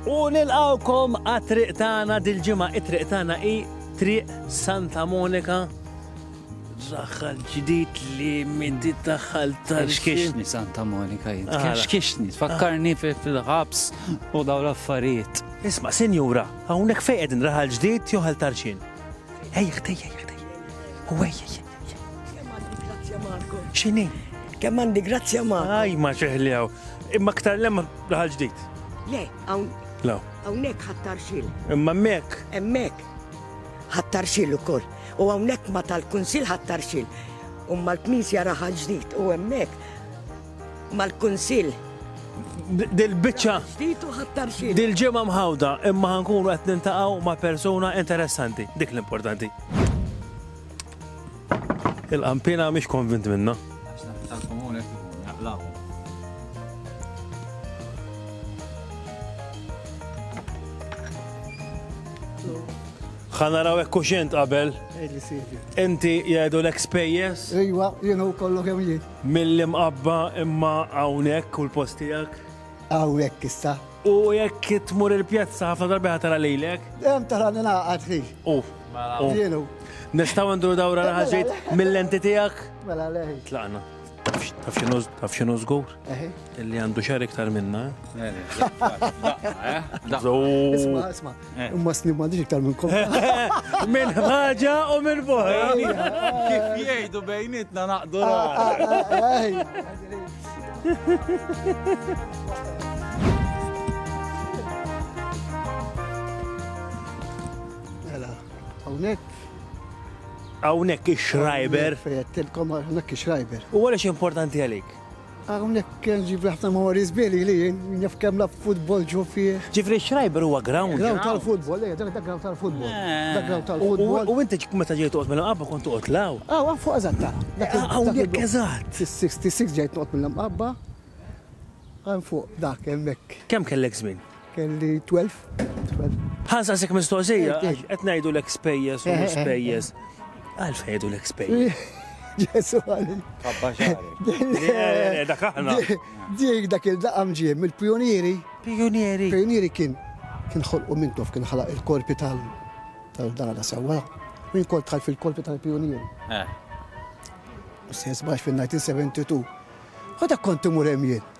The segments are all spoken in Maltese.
U nilqgħukom għat-triq tagħna dil-ġimgħa. It-triq tagħna hi Triq Santa Monika. Daħħal ġdid li minti daħħal tal Xkixni Santa Monika jien. Xkixni, tfakkarni fil-ħabs u daw l-affarijiet. Isma, sinjura, hawnhekk fejn qegħdin raħal ġdid jew ħal tarxin? Ejja, ejja, ejja. U ejja, ejja. Xini? Kemm għandi grazzja ma. Aj, ma ċeħli għaw. Imma ktar lemma laħal ġdid. Le, għawn. La. Għawnek ħattar xil. Imma mek. Emmek. Ħattar xil u koll. U għawnek ma tal-kunsil ħattar xil. Umma l-knisja raħal ġdid u emmek. Mal-kunsil. Dil-bicċa. Ġdid u ħattar xil. Dil-ġemma mħawda imma ħankunu għet nintaqaw ma persona interessanti. Dik l-importanti. Il-qampina mhix konvint minna. ħanaraw hekk kuxent qabel. Inti jgħidu l-ek spejjeż? Ejwa, jienu kollu kemm jien. Mill-imqabba imma hawnhekk u l-post tiegħek? Hawnhekk issa. U jekk tmur il-pjazza ħafna darbi ħatara lejlek? Hemm tara ningħaqad fih. Jienu. Nistaw nduru dawra l-ħaġit mill-lenti tijak? Mela leħi. Tlaqna. Taf xinu zgur? Illi għandu xar iktar minna. Isma, isma. Imma snim għandix iktar minn kom. Minn ħagġa u minn fuħi. Kif jgħidu bejnitna naqdu Mela, hawnhekk Hawnhekk ix-Schreiber. Fejjettilkom hawnhekk ix-Schreiber. U għaliex importanti għalik? Hawnhekk kien ġib ħafna mori żbili li naf kemm la futbol ġu fih. Ġifri Schreiber huwa ground. Ground tal-futbol, eh, dak ground tal-futbol. Eh. Dak ground tal-futbol. U inti meta ġejt toqgħod minn qabba kont toqgħod law. Aw, ah, fuq eżatt ta. Hawnhekk eżatt. 66 ġejt noqgħod mill-qabba. Għan fuq dak hemmhekk. Kemm kellek żmien? Kelli 12. Ħa nsaqsik mistoqsija, qed ngħidu l spejjeż u spejjeż. Għal fejdu l spejjeż. Ġesu għalli. Dak aħna. Dik dak il-daqam ġiem, il-pionieri. Pionieri. Pionieri kien kien ħolqu minn tof kien ħalaq il-korpi tal-dana sewa. Min kol tħal fil-korpi tal-pionieri. Eh. Sens bax fil-1972. U dak konti murem jien.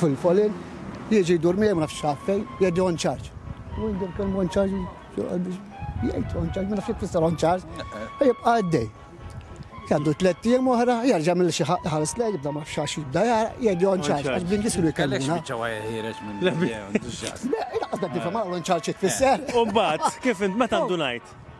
Fil-folin, jiġi jdur miegħi ma nafx fejn, jgħidli on charge. U jdur kemm on charge, jgħid on charge, ma nafx jtfisser on charge, u jibqa' għaddej. Għandu tlet jiem oħra, jarġa' mill xi ħares lej, jibda ma fxax jibda jara, jgħidli on charge, għax blingi silu jkellmuna. Laqas dak nifhem għal on charge jtfisser. U mbagħad, kif int meta ndunajt?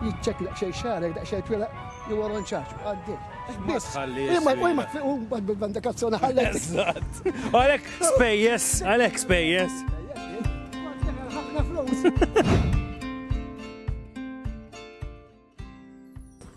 Jiċċekklaq xejn xagħrek daqsxejn twilaq li wara nċaċ u għaddej. Ma tħalli. Imma ma tfiqu bad bil-banda kazzona ħallek. Eżatt. Għalek spejjes, għalek spejjes. Ħafna flus.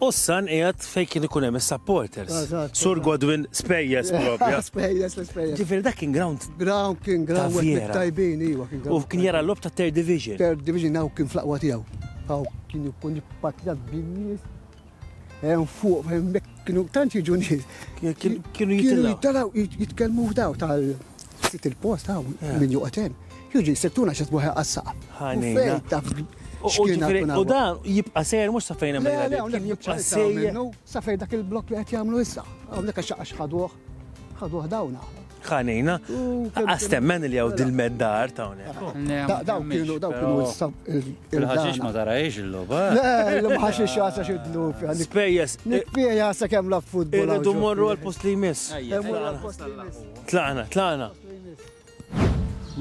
U s-san qiegħed fejn kien ikun hemm is-supporters. Sur Godwin spejjeż propja. Spejjeż, spejjeż. Ġifieri dak kien ground Graw kien graw tajbin, iwa kien graw. U kien jara l-lob ta' third division. Third division għaw kien fl-aqwa tijaw. Għaw kien jkun jippatina b-binnis. Għaw fuq, għemmek kienu tanċi ġunis. Kienu jittalaw. Jitkelmu f'daw tal-sit il-post għaw minn juqaten. Juġi, settuna xat buħe għassa. U dan jibqa sejr mux safejn għamil. Jibqa sejr. Safejn dak il-blok li għet jgħamlu issa. Għamnek għax ħaduħ. Ħaduh dawn aħna. Ħanina. Għas temmen li għaw dil-meddar ta' unek. Daw kienu, daw kienu il-ħaxix ma tarajx il-loba. Il-ħaxix għasa xidlu. Spejjes. Nikpija għasa kem la futbol. Irridu morru għal-post li jmiss. Tlaqna, tlaqna.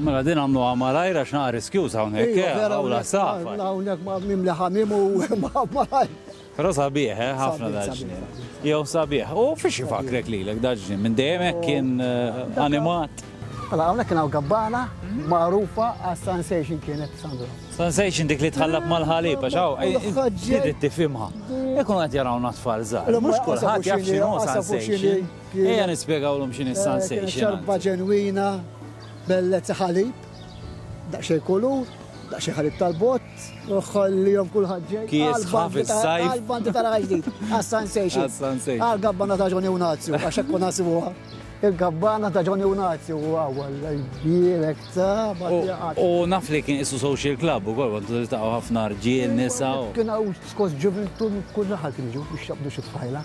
Mela din għamluha malajr għax naqa' riskjuż hawnhekk, eh, Iva, vera, hawn la safar. hawnhekk- Hawnhekk ma' mimli ħamim u ma' malajr. Però sabiħ, eh, ħafna Sabiħ, daġġnien. sabiħ, Jew sabiħ. U fiex ifakrek lilek daġġnien? Minn dejjem hekk kien eh, animat? Mela hawnhekk kien hawn gabbana magħrufa għas-sensation kienet Sandro. Sensation dik li tħallab mal-ħalib, għax hawn, eh, eh, Ħaġġel. trid tifhimha. Ikun qed jarawna tfal żgħar. Mhux kulħadd jaf x'inhu sensation. Ejja nispjegawlhom x'inhi s-Sansation. Eh, xorba ġenwina, bellezza ħalib, daqsxejn kulur, daqsxejn ħalib tal-bot, uħħollihom kulħadd ġej. Kies ħaf is-sajf. Għal-bandi tal-ħaġdid, għas-Sansation. Għal-gabbana ta' Ġoni Unazju, għax hekk nasibuha. Il-gabbana ta' Ġoni Unazju u għawal, jirek ta' U naf li kien isu social club u għol, għandu ta' ħafna rġiel, nisa. Kien għaw skos ġuventu kull raħal kien ġu biex jabdu xifħajla.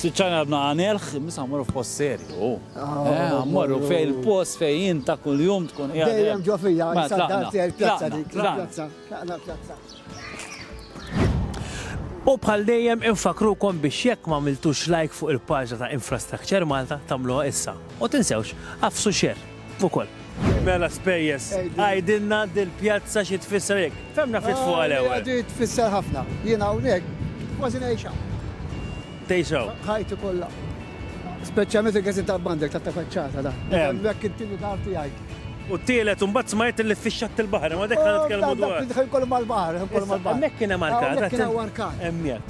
Siċċan għadna għanilħ, misa morru f'post serju. Ah, morru fej il-post fej jien ta' kull jum tkun jgħad. Dejjem ġo fija, ma tlaqna. U bħal dejjem infakrukom biex jekk ma miltux like fuq il-paġna ta' Infrastructure Malta tagħmluha issa. U tinsewx, għafsu xer. ukoll. Mela spejjeż, għidilna dil-pjazza xi tfisser hekk. Femna ftit fuq għal ewwel. Di tfisser ħafna. Jien hawnhekk kważi ngħixha. Tgħixaw. Ħajti kollha. Speċjalment il-gazin tal-bandek ta' faċċata da. Hemmhekk intilu dar tiegħi. U t-tielet imbagħad smajt li fixxat il-baħar, ma dak ħan nitkellmu dwar. Dak kollu mal-baħar, kollu mal-baħar. Hemmhekk kien hemm arkat. Hemmhekk kien hemm arkat. Hemmhekk.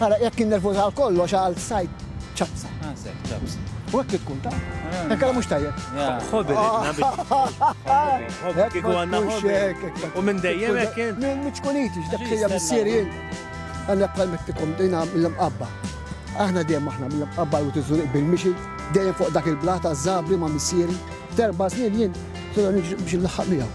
Ara, jekk kien nervuż għal kollox għal sajd ċapsa. Ah, sajd ċapsa. U hekk trid tkun taf. Hekk ara mhux tajjeb. Ħobi ridna biex. Ħobi kieku għandna ħobi. U minn dejjem hekk kien. Minn miċkuniti, x'dak sejja missieri jien. Għandna bħal mittikom dejna mill-imqabba. Aħna dejjem aħna mill-imqabba u tiżżuriq bil-mixi, dejjem fuq dak il-blat għaż-żabri ma' missieri. F'erba' snin jien se nirġa' biex inlaħħaq miegħu.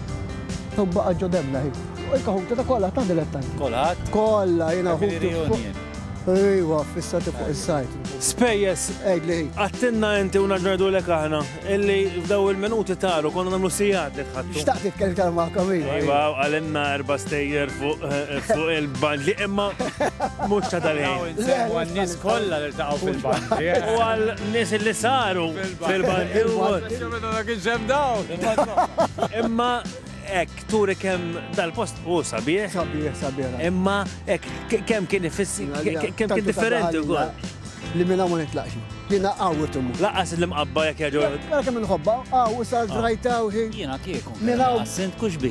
Thom baqa' ġo Demna ħin. U jekk ħuti ta' kollha ta' dilettanti. Kulħadd? Kollha, jiena ħuti fuq. Ejwa, fissati fuq is-sajt. Spejjeż? Għidli hi. Għidtilna inti u nerġa' ngħidulek aħna illi f'daw il-minuti taru konna nagħmlu sigħat li tħadtu. Xtaqt nitkellem iktar magħkom ejwa. Ejwa, qalilna erba' stejjer fuq il-bandli imma mhux ta' dal-ħin. Kolla li taqaw fil-bandi. U għal nis li saru fil-bandi. Imma ek turi kem dal-post u sabiħ. Sabiħ, sabiħ. Imma ek kem kien ifissi, kem kien differenti u għol. Li minna ma nitlaqxi. Li naqqaw u tummu. Laqqas li mqabba jek jaġu. Għal kem nħobba, għaw, sa' zrajta u ħin. Jena kieku. Minna. Sint kuxbi.